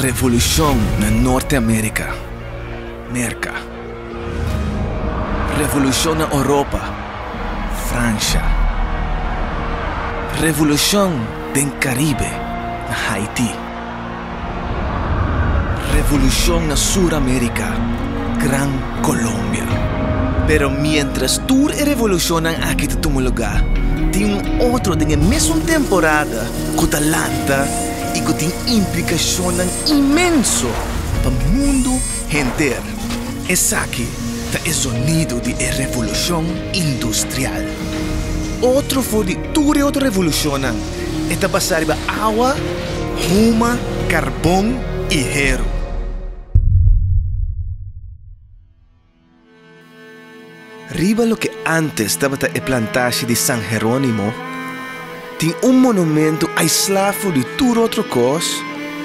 Revolushon na Norte America, Merka. Revolushon na Oropa, Fransha. Revolushon den Karibe, na Haiti. Revolushon na Sur America, Gran Colombia. Pero mientras tur e revolushonnan aki ta tuma lugá, tin un otro den e mesun temporada ku ta lanta i ku tin implikashonnan inmenso pa mundu henter. Esaki ta e zonidu di e revolushon industrial. Otro for di tur e otro revolushonnan, e ta basá riba awa, huma, karbon i heru. Riba loke ántes tabata e plantashi di San Herónimo, tin un monumentu aislá for di tur otro kos,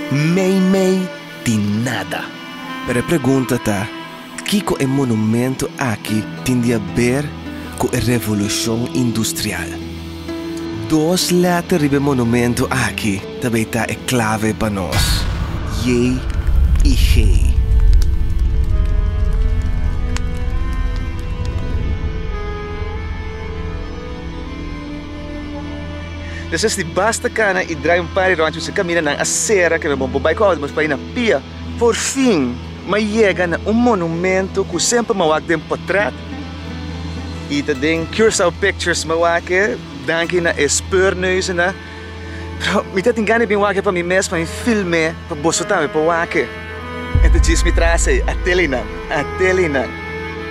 meimei di nada. Pero e pregunta ta, Kiko e monumentu aki tin di haber ku e Revolushon Industrial? Dos lèter riba e monumentu aki ta bay ta e klave pa nos, Jey i Gey. Nesesiti basta kana i drai un par di rònt i mester kamina nan a sera ke bo bai ku autro mos paina pia. Por fin, m'a yega na un monumentu ku semper m'a wak den potret Y ta den Curaçao Pictures mi wak e. Danki na e speurneuzennan. Pero mi ta tin gana di bin wak e pa mi mes, pa mi film e, pa boso tambe por wak e. E ta djis mi tras ei, a telenan, a telenan.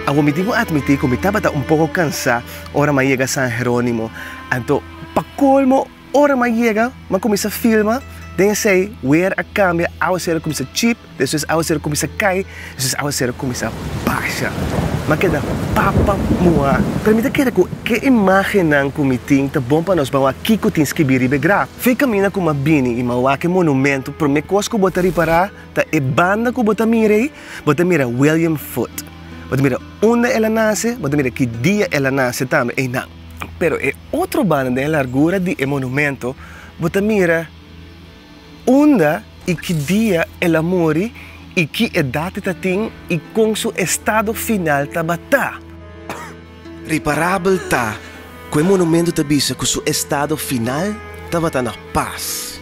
Awor mi tin cu admiti cu mi tabata un poco cansa ora mi a yega San Geronimo. Anto, pa colmo. Ora m'a yega, m'a kuminsá filma den esei weer a kambia, awa sera kuminsá chip, despues awa sera kuminsá kai, despues awa sera kuminsá basha. M'a keda papa muhá. Pero mi ta kere ku e imágennan ku mi tin ta bon pa nos bawá kiko tin skibí riba e graf. Fe kaminda ku m'a bini i m'a wak e monumentu, promé kos ku bo ta ripará ta e banda ku bo ta mira ei, bo ta mira William Foote. Bo ta mira unda el a nase, bo ta mira ki dia el a nase tambe. Einan. Pero e otro banda den e largura di e monumento bo ta mira unda i ki dia el a muri i ki edat e ta tin i kon su estado final tabata. Reparabel ta ku e monumento ta bisa ku su estado final tabata na pas.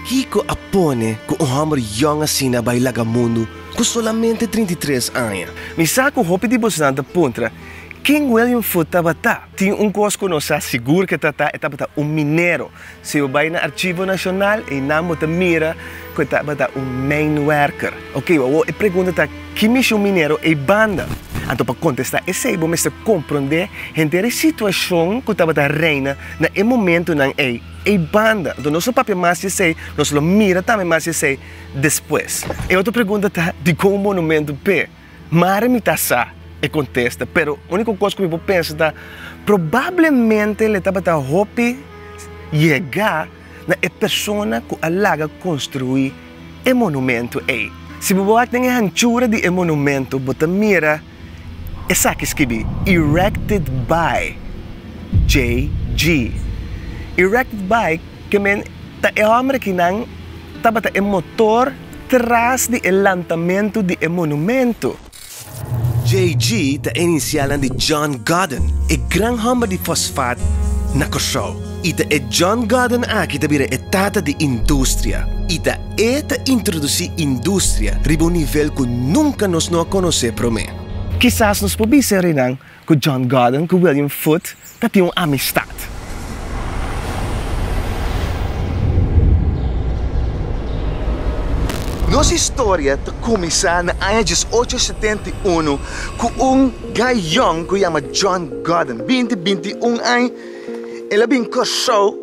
Kiko a pone ku un hòmber yòn asina bai laga mundu ku solamente trinta i tres aña? Mi sa ku hopi di bosonan ta puntra Ken William Foote tabata? Tin un kos ku nos sa sigur ke tata, e tabata un minero. Si bo bai na Arshivo Nashonal einan bo ta mira ku e tabata un mijnwerker. Oke, awor e pregunta ta, ki mishon minero ei banda? Anto pa kontestá esei bo mester komprondé henter e situashon ku tabata reina na e momentunan ei, ei banda. Anto nos lo papia mas di esei, nos lo mira tambe mas di esei despues. E otro pregunta ta, dikon un monumentu p'e? Mari mi ta sa, e kontesta. Pero úniko kos ku mi por pensa ta, Probablemente el a tabata hopi yega na e persona ku a laga konstruí e monumentu ei. Si bo wak den e hanchura di e monumentu bo ta mira esaki skibi, Erected by JG. Erected by ke men ta e hòmber aki nan tabata e motor. tras di e lantamentu di e monumento. JG ta e inisialnan di John Godden, e gran homber di fosfat na Kòrsou. I ta e John Godden aki ta bira e tata di industria. I ta e ta introdusí industria riba un nivel ku nunka nos no a konosé promé. Kisas nos por bisa, Rinan, Ku John Gordon ku William Foote ta tin un amistat. Nos historia ta kuminsá na aña dies ocho setenta i uno ku un gayón ku yama John Gordon, binti binti un añ. El a bin Kòrsou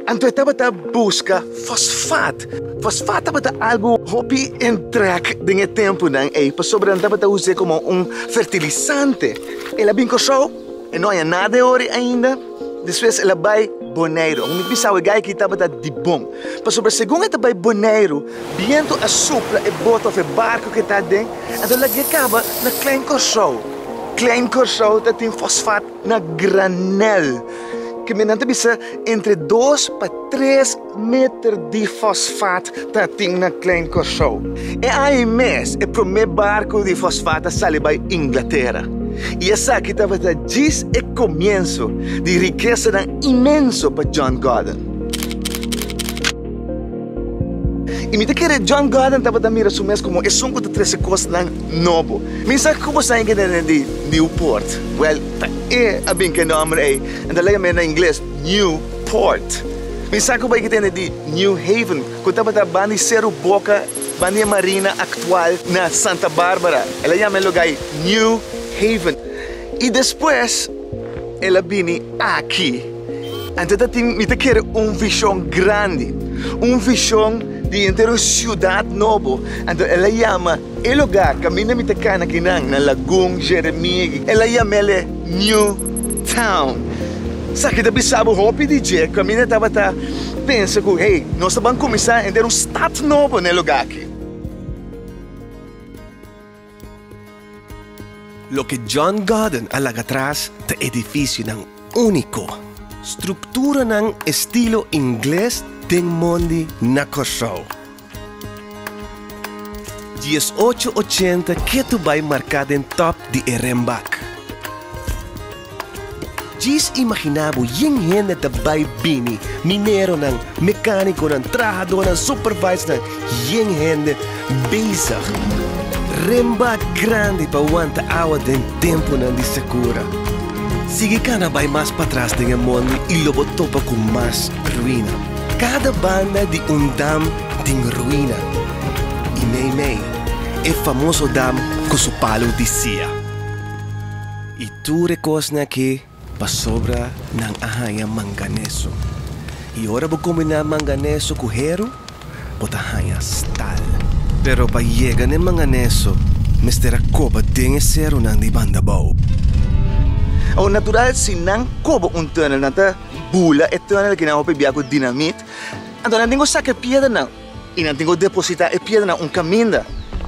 anto e tabata buska fosfat. Fosfat tabata algu hopi entrèk den e tempunan ei pasobra nan tabata us'é komo un fertilisante. El a bin Kòrsou, e no haña nada e ori ainda, despues el a bai Boneiru. Mi bisa awe Gayki tabata di bon pasobra segun e ta bai Boneiru bientu a supla e bota òf e barku ku e ta aden, anto lag'é kaba na Klein Kòrsou. Klein Kòrsou ta tin fosfat. Na granel, ke men nan ta bisa entre dos pa tres meter di fosfat ta tin na Klein Kòrsou. E aña mes e promé barku di fosfat a sali bai Inglatera, i esaki tabata djis e komienso di rikesanan inmenso pa John Gordon. I mi ta kere John Gordon tabata mira su mes komo esun ku ta trese kosnan No bo. Mi sa cu bo saña kende den di Newport. Well, ta e a bin cu e nomber ey. En ta leka mi na ingles, New Port. Mi sa cu bo ey kende di New Haven, cu tabata ban di Cerro Boca, ban di e marina actual na Santa Barbara. El a yama e lugar ey New Haven. Y despues el a bini aki. Anto ta tin, mi ta kere un vision grandi. Un vision di entero un ciudad nobo. Anto el a yama. E lugá kaminda mi ta kana kinan na Lagun, Jeremie, el a yam'e New Town. Esaki ta bisabu hopi di dje ku ami no tabata pensa ku, hey, nos ta ban kuminsá henter un stat nobo na e lugá aki. Loke John Gordon a laga atras ta edifisionan úniko, strukturanan estilo ingles den mondi na Kòrsou. Diesocho ochenta ke tu bai marká den tòp di e renbak. Djis imaginá bo yin hende ta bai bini, mineronan, mekánikonan, trahadónan, supervisornan, yin hende bezig renba grandi pa wanta awa den tempunan di sekura. Sigui kana bai mas patras den e mondi i lo bo topa ku mas ruina. Kada banda di un dam tin ruina, i mei mei e famoso dam ku su palu di sia. I tur e kosnan aki pasobra nan a haña manganeso. I ora bo kombiná manganeso ku heru, bo ta haña stal. Pero pa yega na e manganeso mester a koba den e serunan di banda bou. Natural si nan koba un tunnel nan ta. bula e tunnel ki nan hopi bia ku dinamit, anto nan tin ku saka e piedranan i nan tin ku depositá e piedranan un kaminda.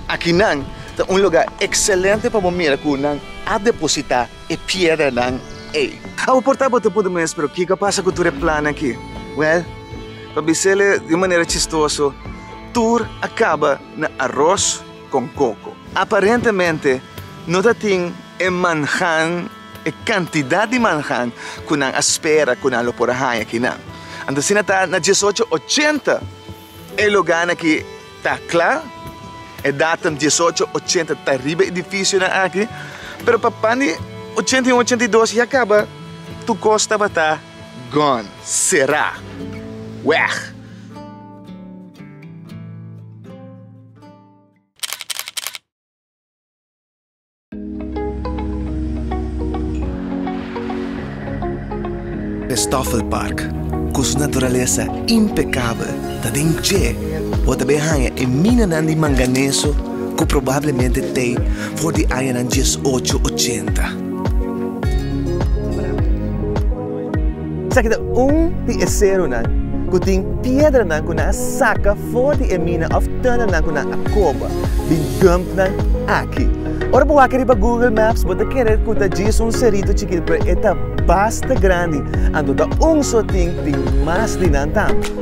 Akinan ta un lugá ekselente pa bo mira ku nan a depositá e piedranan ei. Awo por ta bo ta puntra mes, Pero kiko a pasa ku tur e plannan aki? Wèl, pa bisele di un manera chistoso, tur a kaba na aros kon koko. Aparentemente no ta tin e manhan. E kantidat di manhan ku nan a spera ku nan lo por a haña kinan. Anto asina ta na diesocho ochenta. E logánan aki ta kla, e dátum diesocho ochenta ta riba e difisionan aki, pero pa pan di ochenta i un, ochenta i dos ya kaba, tur kos tabata gone, será, wèg. Stoffelpark, ku su naturalesa impekabel, ta den dje bo ta bin haña e minanan di manganeso ku probablemente t'ei for di añanan diesocho ochenta. Esaki ta un di e serunan ku tin piedranan ku nan a saka for di e mina òf tùnelnan ku nan a koba bin dump nan aki. Ora bo wak riba Google Maps bo ta kere ku ta djis un serito chikit pero e ta basta grandi, anto ta un so tin tin mas di nan tambe.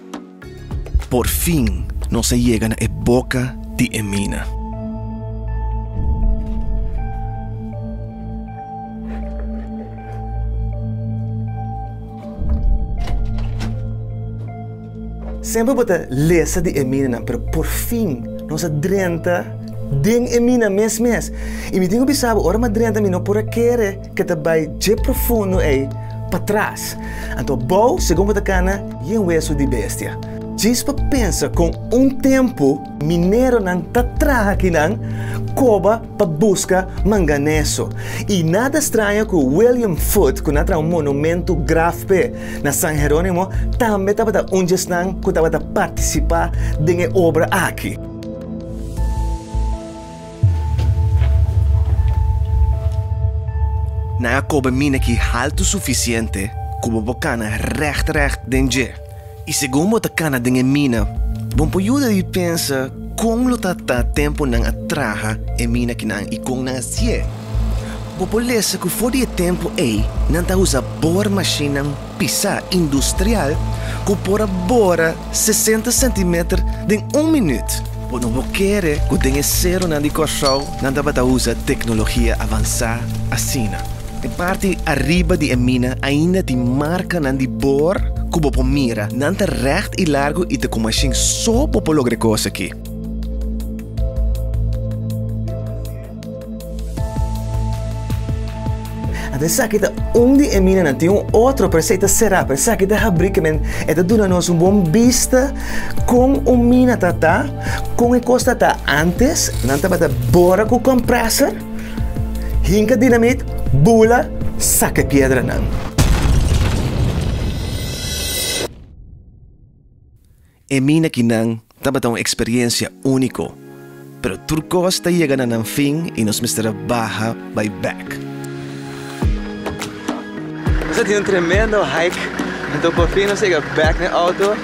Por fin nos a yega na e boka di e mina. Semper bo ta lesa di e minanan, pero por fin nos a drenta den e mina mes mes. I mi tin ku bisa bo, ora mi a drenta mi no por a kere. ke ta bai dje profundo ei patras. Anto bou, segun bo ta kana, y en wesu di bestia. Djis pa pensa kon un tempu mineronan ta traha kinan koba pa buska manganeso. Y nada straño ku William Foote, ku na traha un monumentu graf p'e na San Jerónimo, tambe tabata un dje esnan ku tabata partisipá den e obra aki. Nan a koba mina ki haltu sufisiente ku bo por kana règt règt den dje. I segun bo ta kana den e mina, bo por yuda di pensa kon lo ta ta tempu nan a traha e mina kinan i kon nan a si'é. Bo por lesa ku for di e tempu ei nan ta usa bor mashinnan Pisá industrial ku por a bora sesenta sentimeter den un minüt. Bo no por kere ku den e serunan di Kòrsou nan tabata usa teknologia avansá asina. E parti ariba di e mina ainda tin markanan di bor ku bo por mira. Nan ta règt i largu i ta ku mashin so bo por logra e kos aki. Anta esaki ta un di e minanan. Tin un otro, pero esei ta será, pero esaki ta habrí ke men e ta duna nos un bon bista kon un mina ta ta, kon e kos ta ta antes. Nan tabata bora ku kompreser, hinka dinamit, bula, saka e piedranan. E mina kinan tabata un eksperiencia único, pero tur kos ta yega na nan fin y nos mester a baha bai bek. Nos a tin un tremendo hike, anto por fin nos yega bek na e auto.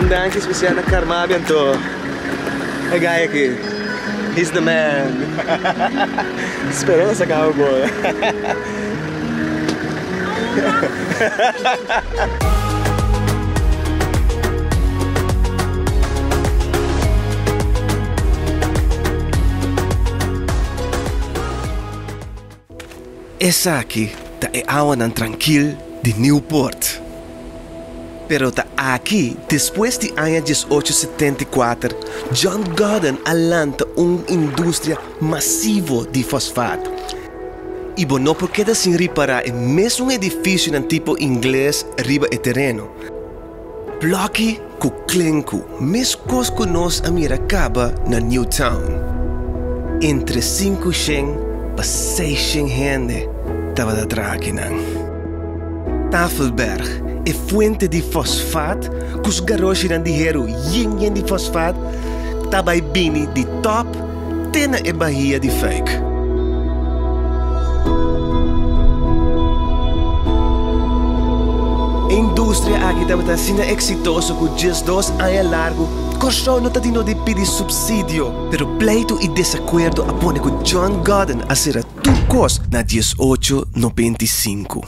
Un danki especial na Carmabi anto e guy aki, he's the man. Spero nos a caba bon. Esaki ta e awanan trankil di Newport. Pero ta aki, despues di aña diesocho setenta i kuater, John Gordon a lanta un industria masivo di fosfat. i bo no por keda sin ripará e mes un edifisionan tipo ingles riba e tereno. Blokkie ku klenku, meskos ku nos a mira kaba na New Town. Entre sinku shen pa seishen hende tabata traha akinan. Tafelberg, e fuente di fosfat ku su garoshinan di heru yen yen di fosfat ta bai bini di tòp te na e bahia di Fijk. E industria aki tabata asina exitoso cu djes dos aña largu Kòrsou no ta di no di pidi subsidio. Pero pleitu i desacuerdo a pone cu John Godden a sera tur cos na diesocho nobenta i sinku.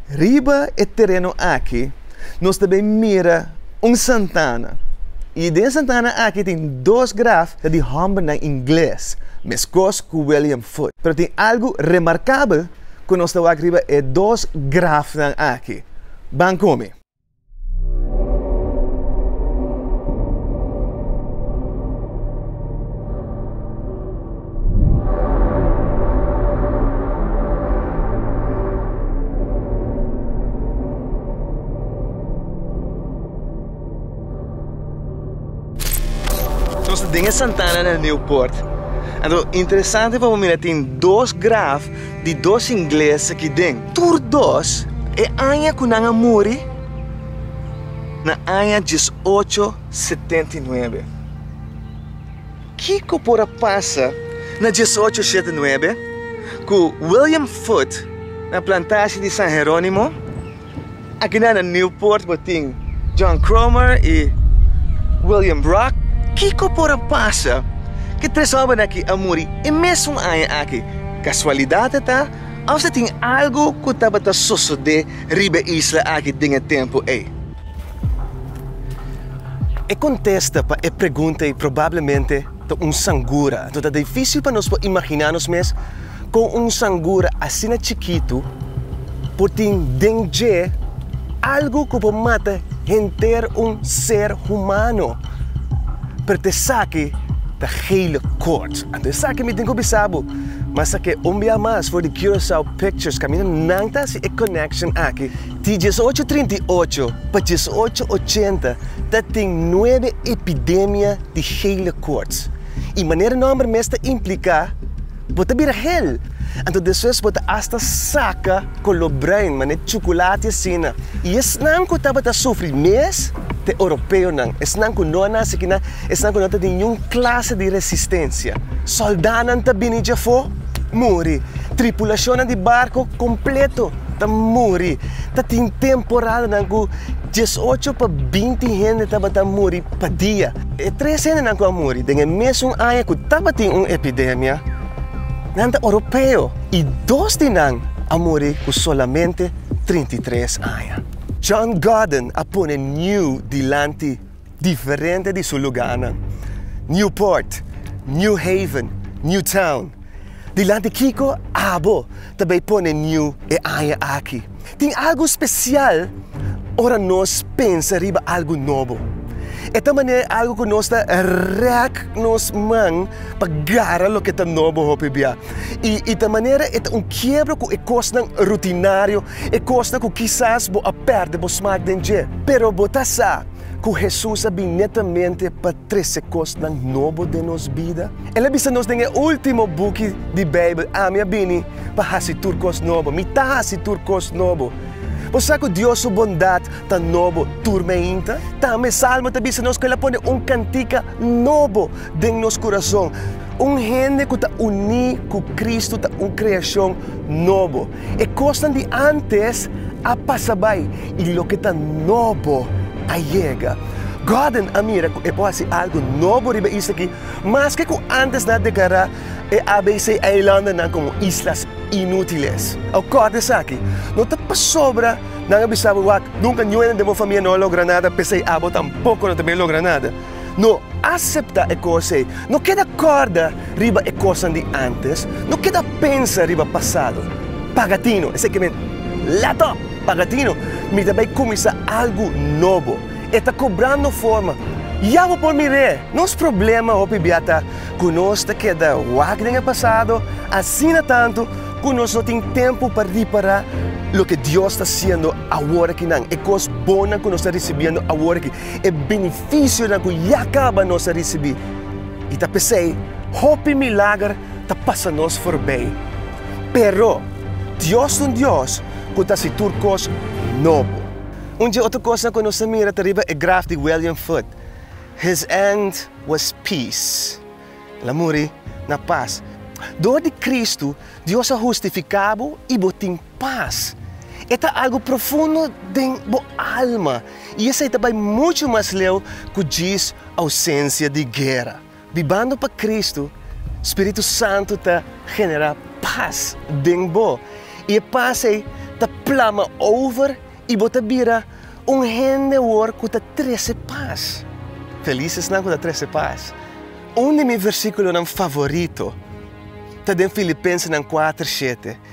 Riba e tereno aki nos ta bin mira un santana y den santana aki tin dos graf ta di hombernan ingles meskos cu William Foote. Pero tin algu remarcabel cu nos ta wak riba e dos grafnan aki. Ban cu mi. Nos ta den e Santana del Nieuwpoort, interesante pa bo mira tin dos graf. di dos ingles aki den. Tur dos e aña ku nan a muri na aña dies ocho setenta i nuebe. Kiko por a pasa na dies ocho shete nuebe ku William Foote na plantashi di San Herónimo Akinan na Newport bo tin John Cromer i William Brock. Kiko por a pasa ku e tres hòmbernan aki a muri e mesun aña aki? Kasualidat a ta òf ta tin algu ku tabata sosodé riba e isla aki den e tempu ei? E kontesta pa e pregunta ei probablemente Ta un sangura. Anto ta difísil pa nos por imaginá nos mes kon un sangura asina chikitu por tin den dje algu ku por mata henter un ser humano. Pero ta esaki ta gele kort. Anto esaki mi tin ku bisa bo, Mas a ke un bia mas for di Curaçao Pictures kaminda nan ta hasi e connection aki. Di diesocho trinta i ocho pa diesocho ochenta ta tin nuebe epidemia di gele koorts i manera nòmber mes ta impliká bo ta bira gel, anto despues bo ta asta saka koló bruin manera chukulati asina. I esnan ku tabata sufri mes ta e Europeonan, esnan ku no a nase aki nan, esnan ku no ta niun klase di resistensia. Sòldánan ta bini djafó muri, tripulashonnan di barko kompleto. ta muri, ta tin temporadanan ku dies ocho pa binti hende tabata muri pa dia. E tres hendenan ku a muri den e mesun aña ku tabatin un epidemia, nan ta oropeo i dos di nan a muri ku solamente trinta i tres aña. John Gordon a pone niu dilanti. diferente di su lugánan, Newport, New Haven, New Town. Dilanti kiko abo ta bai pone New e aña aki? Tin algu spesial ora nos pensa riba algu nobo. E ta manera di algu ku nos ta rèk nos man pa gara loke ta nobo hopi bia. I ta manera, e ta un kiebra ku e kosnan rutinario E kosnan ku kisas bo a pèrdè bo smak den dje. Pero bo ta sa ku Hesus a bin netamente pa trese kosnan nobo den nos bida. El a bisa nos den e último buki di Beibel, Ami a bini pa hasi tur kos nobo. Mi ta hasi tur kos nobo. Bo sa ku Dios su bondat ta nobo tur meinta? Tambe e Salmo ta bisa nos ku el a pone un kantika nobo den nos kurason. Un hende ku ta uní ku Kristu ta un kreashon nobo. E kosnan di ántes a pasa bai i loke ta nobo a yega. Gordon a mira ku e por hasi algu nobo riba e isla'ki, maske ku ántes nan a deklará e ABC Eilandennan komo islas inútiles. Awor kòrda esaki, No ta pasobra nan a bisa abo wak, nunka niun hende den bo famia no a logra nada, p'esei abo tampoko no ta bin a logra nada. No aseptá e kos ei. No keda kòrda riba e kosnan di ántes. No keda pensa riba pasado. Pagatino, esei ke mi lèt òp! Pagatino, mi ta bai kuminsá algu nobo. E ta kobrá no forma. Ya bo por mir'é! Nos problema hopi bia ta ku nos ta keda wak den e pasado asina tantu ku nos no tin tempu pa ripará loke Dios ta hasiendo aworakí nan, e kos bonnan ku nos ta risibiendo aworakí. e benefisionan ku ya kaba nos a risibí, i ta p'esei hopi milager ta pasa nos forbei. Pero, Dios ta un Dios ku ta hasi tur kos nobo. Un dje otro kosnan ku nos a mira ta riba e graf di William Foote, His end was peace, el a muri na pas. Dor di Kristu, Dios a hustifiká bo i bo tin. pas. E ta algu profundo den bo alma i esei ta bai muchu mas leu ku djis ousensia di guera. Bibando pa Kristu, Spiritu Santu ta generá pas den bo, i e pas ei ta plama over i bo ta bira un hende awor ku ta trese pas. Felis esnan ku ta trese pas! Un di mi versíkulonan favorito ta den Filipensenan kuater shete.